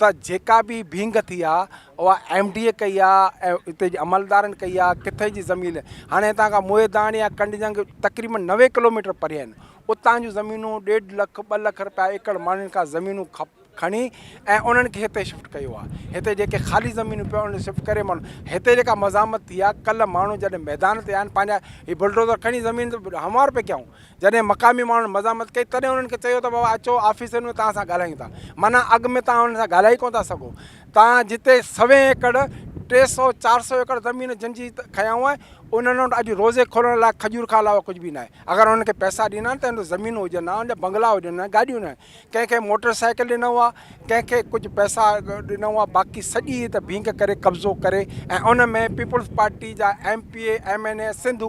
ته جيڪا به ڀينگ ٿي آ اها ايم ڊي اي ڪئي آ ۽ اتي جي عملدارن ڪئي آ ڪٿي جي زمين هاڻي هتان کان موهيداڻ يا ڪنڊجنگ تقريبن نوي ڪلوميٽر پري آهن اتان جون زمينون ڏيڍ لک ٻه لک رپيا ايڪڙ ماڻهن کان زمينون کپ کڻي ۽ انهن کي هتي شفٽ ڪيو آ هتي جيڪي خالي زمينون پيو انهن شفٽ ڪري ماڻهو هتي جيڪا مزاحمت ٿي آ ڪل ماڻهو جڏهن ميدان تي آيا آهن پنهنجا هي بلڊوزر کڻي زمين تي هموار پيا ڪيائون جڏهن مقامي ماڻهن مزاحمت ڪئي تڏهن انهن کي چيو ته بابا اچو آفيسن ۾ توهان سان ڳالهايون ٿا معنيٰ اڳ ۾ توهان انهن سان ڳالهائي ڪونه ٿا سگهو توهان جتي سوين ايڪڙ ٽي سؤ چار سؤ ايڪڙ زمين جن جي کنيائون آهن انهن وٽ اڄ روزي کولڻ لاء کجور کان علاوه ڪجهه به نه آهي اگر انهن کي پئسا ڏيندا آهن ته انهن وٽ زمينون هجن ها انهن جا بنگلا هجن ها گاڏيون نه آهن ڪنهن کي موٽر سائيڪل ڏنو آهي ڪنهن کي ڪجهه پئسا ڏنو آهي باقي سڄي هت ڀينگ ڪري قبضو ڪري ۽ ان ۾ پيپلز پارٽي جا M P A M N A Sindh